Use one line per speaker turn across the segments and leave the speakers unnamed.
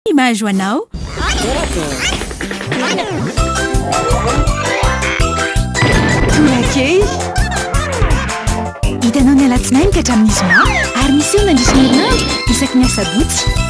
ny maha-zo anao.
Torakely. Hitanao ny alatsinainy ka hatramin'ny zoma ary miseho mandritra ny herinandro isaky ny asabotsy.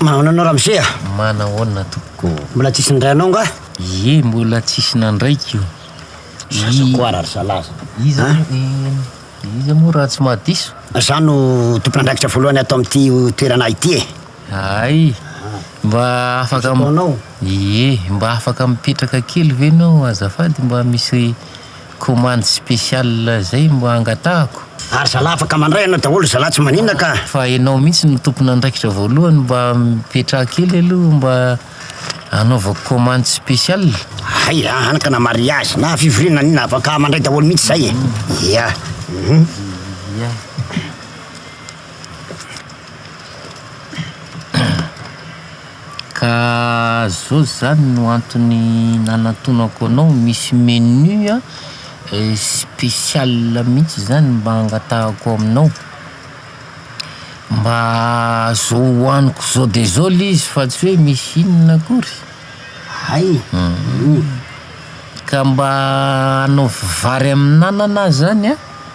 Manao anao ramose a? Manahoana tompoko?
Mbola tsisy nindray anao
nga? Ie, mbola
tsisy nandraiko. Zaza
koa raha zalaza. Iza
iza moa raha tsy mahadiso? Za no
tompon'andraikitra voalohany ato amin'ity toerana ity e. Hay!
Mba afaka Misy fotoana ao? Ie,
mba
afaka mipetraka kely ve enao azafady mba misy commande spéciale zay mba angatahako? Ary zalahy afaka
mandray anao daholo zalahy tsy manina ka! Fa enao mihitsy no
tompon'andraikitra voalohany mba mipetraha kely aloha mba anaovako commande spéciale. Hay a! Hany
ka na mariage na fivoriana na inona afaka mandray daholo mihitsy zay e! Ia! Hum! Ia!
Ka zao zany no antony nanantonako anao, misy menu spécial mihitsy zany mba hangatahako aminao, mba zao hohaniko zao de zao le izy fa tsy hoe misy inona akory, hay um, ka mba anaovy vary amin'anana zany an.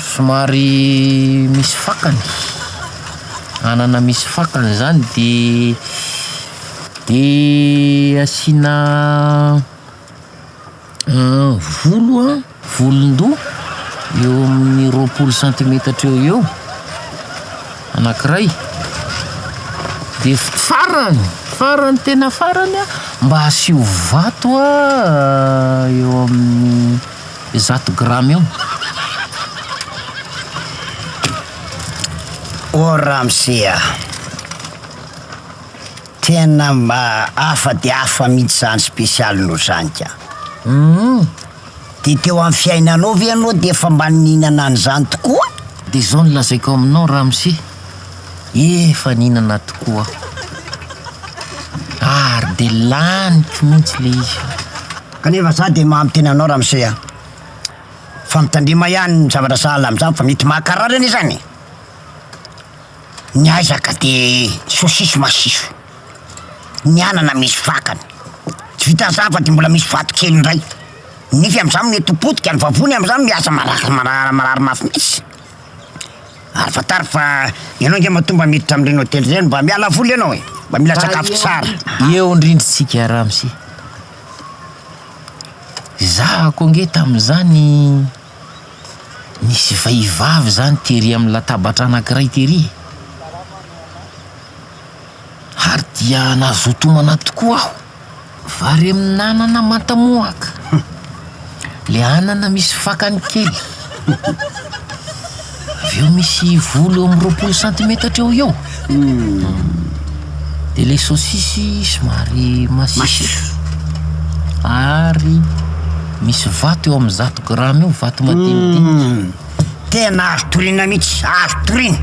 Somary misy fakany, anana misy fakany zany de de asiana volo an, volon-doha eo amin'ny roapolo santimetatra eo ho eo anankiray de farany, farany tena farany an mba asio vato eo amin'ny. Zato grama eo.
O ramose a! Tena hafa dia hafa mihitsy izany spécial-nao izany ka! Humm! Dia teo amin'ny fiainanao ve ianao dia efa mba nihinana an'izany tokoa? Dia izao no
lazaiko aminao ramose, efa nihinana tokoa aho. Ary dia laniko mihitsy ilay izy. Kanefa za
de maha miteny anao ramose a! Fa mitandrema ihany ny zavatra sahala amin'izany fa mety mahakarary anie zany e! Ny aiza ka de sosisy masiso, ny anana misy fakany, tsy vitan'izany fa de mbola misy vato kely indray, ny nify amin'izany mety ho potika, ny vavony amin'izany miasa marary marary mafy mihitsy! Ary fantaro fa ianao ange matoa mba miditra amin'ireny hotely ireny, mba miala voly ianao e! Mba mila sakafo tsara. Eo indrindra
isika ramose. Izaho aho koa ange tamin'izany nisy vehivavy izany tery amin'ny latabatra anankiray tery e. Ary dia nazoto homana tokoa aho. Vary amin'anana manta mohaka. le anana misy fakany kely, avy eo misy volo eo amin'ny roapolo santimetatra eo ho eo, dia ilay saosisy somary masiso, ary misy vato eo amin'ny zato grama eo, vato madinidinika. Tena
azo toriana mihitsy, azo toriana.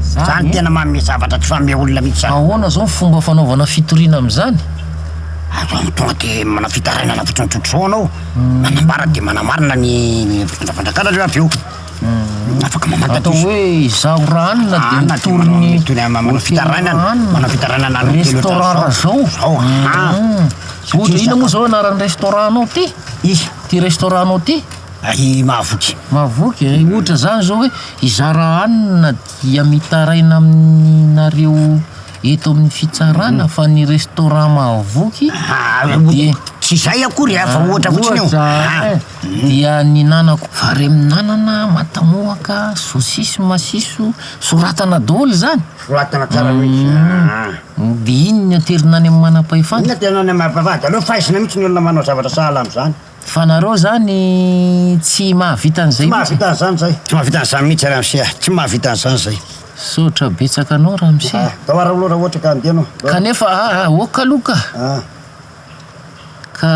Izany tena manome zavatra tsy manome olona mihitsy izany. Ahoana izao ny fomba fanaovana
fitoriana amin'izany? Azonao
tonga dia manao fitarainana fotsiny tsotr'izao ianao, manambara dia manamarina ny fandrafandrakanao aloha avy eo. Afaka mamantatra izy. Atao hoe
izaho
raha
hanina dia mitory ny hotely raha hanina,
restaurant raha
izao. Ohatra inona moa izao anaran'ny restaurant-nao ity? Ity
restaurant-nao
ity? Ary mahavoky.
Mahavoky e, ohatra
zany zao hoe hizara hanina dia mitaraina aminareo eto amin'ny fitsarana fa ny restaurant mahavoky dia. Tsy izay akory
a, fa ohatra fotsiny io. Ohatra e, dia
nihinanako vary amin'anana, matamoaka, sosisy, masiso, soratana daholo izany. Soratana tsara mihitsy
an. Dia iny ny aterina
any amin'ny manam-pahefana. Iny ny aterina any amin'ny manam-pahefana,
dia aleo faizina mihitsy ny olona manao zavatra sahala amin'izany. Fa nareo zany
tsy mahavita an'izay mihitsy e! Tsy mahavita an'izany
zay!
Tsy
mahavita an'izany mihitsy ramse ah! Tsy mahavita an'izany zay! Misaotra betsaka
anao ramse ah! Atao ara aloha raha ohatra ka
andeha anao! Kanefa ah ah! Ok
aloha ka! Ah! Ka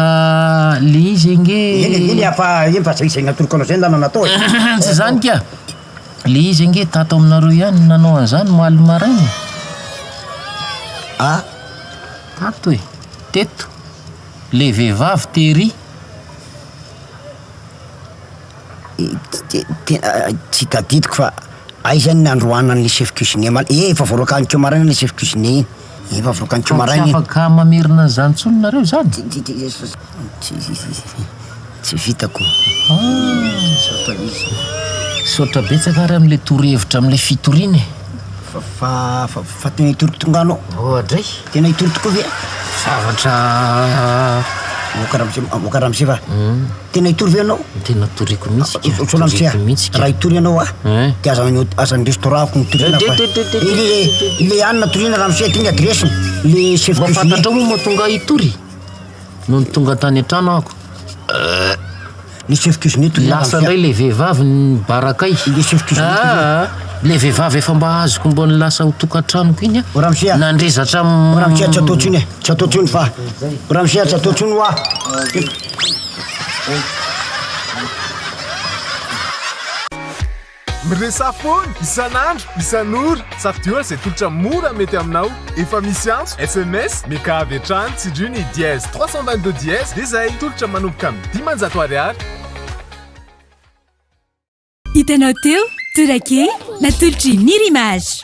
le izy ange. Eny e, eny fa
eny fa zay zay natoloko anao zay ndana natao e! Tsy zany ka!
Le izy ange tato aminareo ihany no nanao an'izany omaly maraina e! Ah! Tato e! Teto! Le vehivavy tery
tena tsy tadidiko fa aiza ny nandroanany le chef cuisinier ma- ee efa voaroakaniko maraina le chef cuisinier iny, efa voaroakaniko maraina iny. Fa tsy afaka mamerina an'izany
intsony nareo izany?
Tsy vitako. Misaotra Izy.
Misaotra betsaka ary amin'ilay torohevitra amin'ilay fitoriana e. Fa,
fa, fa tena hitory tonga anao. Oadray. Tena
hitory tokoa ve?
Zavatra
Moka Ramose, ah, Moka
Ramose va? Tena hitory ve ianao? Tena toriko mihitsy
ka. Soa Ramose a, Toriko mihitsy
ka. raha hitory ianao a, Eh. dia aza any hot- aza any restaurant-ko ny toriana Eh, fa. de- de- de- de- Ilay, ilay, ilay hanina toriana Ramose, ity ny adresse-ny. Ilay chef Mba cuisinier. fantatrao moa mba tonga
hitory? Nony tonga tany an-trano aho,
lasa indray ilay vehivavy
nibaraka ahy. Ilay
vehivavy efa
mba azoko mba nilasa ho tokantranoko iny an, nandre zatra. Ramose tsy atao intsony
e, tsy atao intsony fa, Ramose tsy atao intsony hoa.
Miresaha foana, isan'andro, isan'ora, safidio an'izay tolotra mora mety aminao, efa misy antso, sms, meka avy hatrany, tsindrio ny dièse trois cent vingt deux dièse dia izay, tolotra manomboka amin'ny dimanjato ariary.
Hitanao teo, Tourake, natolotr'i Mir'Image.